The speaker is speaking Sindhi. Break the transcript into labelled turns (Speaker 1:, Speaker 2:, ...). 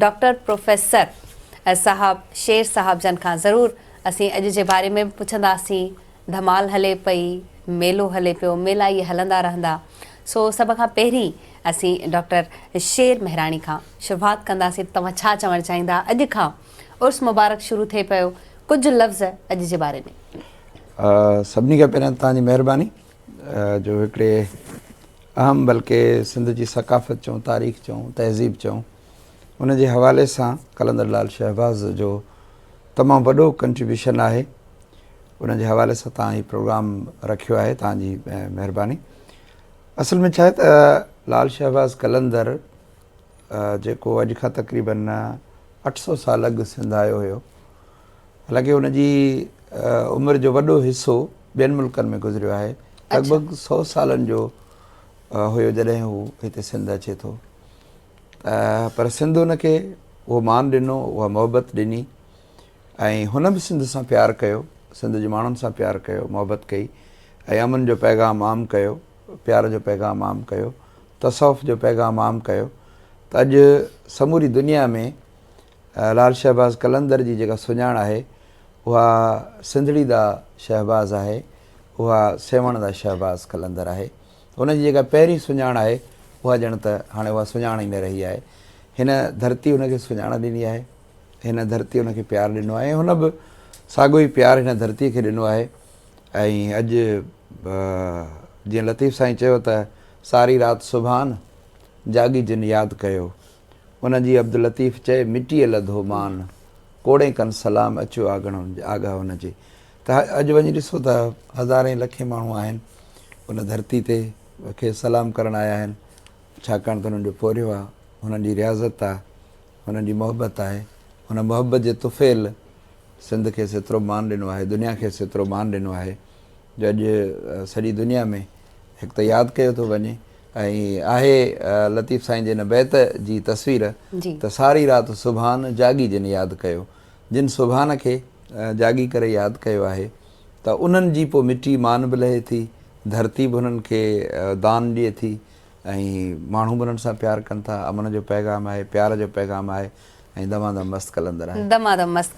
Speaker 1: ڊاڪٽر پروفيسر صاحب شير صاحب جن کان ضرور اسين اڄ جي باري ۾ به پڇنداسين ڌمال هلي پئي ميلو هلي پيو ميلا اهي هلندا رهندا سو سڀ کان پهرين اسين ڊاڪٽر شير مهراڻي کان شروعات ڪنداسين توهان ڇا چوڻ چاهيندا اڄ کان عرس مبارڪ شروع ٿئي پيو ڪجهه لفظ اڄ جي باري ۾
Speaker 2: سڀني کان پهريان توهان جي مهرباني جو هڪڙي اهم بلڪه سنڌ جي ثقافت چئون تاريخ چئون تهذيب چئون ان جي حوالي سان قلندر لال شهباز جو تمام وڏو ڪنٽريبيوشن آهي ان جي حوالي سان تان هي پروگرام رکيو آهي تان جي مهرباني اصل ۾ ڇا آهي ته لال شهباز قلندر جيڪو اڄ کان تقريبن اٺ سو سال اڳ سنڌ آيو هيو حالانڪه ان جي عمر جو وڏو حصو ٻين ملڪن ۾ گذريو آهي لڳ ڀڳ سو سالن جو هيو جڏهن هو هتي سنڌ اچي ٿو پر سنڌ هن کي اهو مان ڏنو، اها محبت ڏني ۽ هن به سنڌ سان پيار ڪيو، سنڌ جي ماڻهن سان پيار ڪيو، محبت ڪئي ۽ امن جو پيغام عام ڪيو، پيار جو پيغام عام ڪيو، تصوف جو پيغام عام ڪيو ته اڄ سموري دنيا ۾ لال شهباز قلندر جي جيڪا سڃاڻ آهي اها سنڌڙي دا شهباز آهي، اها سيوهڻ دا شهباز قلندر آهي. هن جي جيڪا پهرين سڃاڻ آهي، اها ڄڻ ته هاڻي اها سڃاڻ ئي نه رهي آهي. هن ڌرتي هن کي سڃاڻ ڏني آهي. هن ڌرتي هن کي پيار ڏنو آهي ۽ هن به ساڳيو ئي پيار هن ڌرتيء کي ڏنو آهي ۽ اڄ جيئن لطيف سائين چيو ته ساري رات سبحان جاڳي جن ياد ڪيو ان جي عبداللطيف چئي مٽيء لڌو مان ڪوڙين ڪن سلام اچيو آگهڻ آگاهه ان جي ته اڄ وڃي ڏسو ته هزارين لکين ماڻهو آهن ان ڌرتي تي کيس سلام ڪرڻ آيا آهن ڇاڪاڻ ته هنن جو پورهيو آهي هنن جي رياضت آهي هنن جي محبت آهي هن محبت جي طفيل سنڌ کيس ايترو مان ڏنو آهي دنيا کيس ايترو مان ڏنو آهي جو اڄ سڄي دنيا ۾ هڪ ته ياد ڪيو ٿو وڃي ۽ آهي لطيف سائين جي هن بيت جي تصوير ته ساري رات سبحان جاڳي جن ياد ڪيو جن سبحان کي جاڳي ڪري ياد ڪيو آهي ته انهن جي پوء مٽي مان به لهي ٿي، ڌرتي به انهن کي دان ڏئي ٿي ۽ ماڻهو به انهن سان پيار ڪن ٿا. امن جو پيغام آهي، پيار جو
Speaker 1: پيغام
Speaker 2: آهي ۽ دمادم مست قلندر آهي. دمادم مست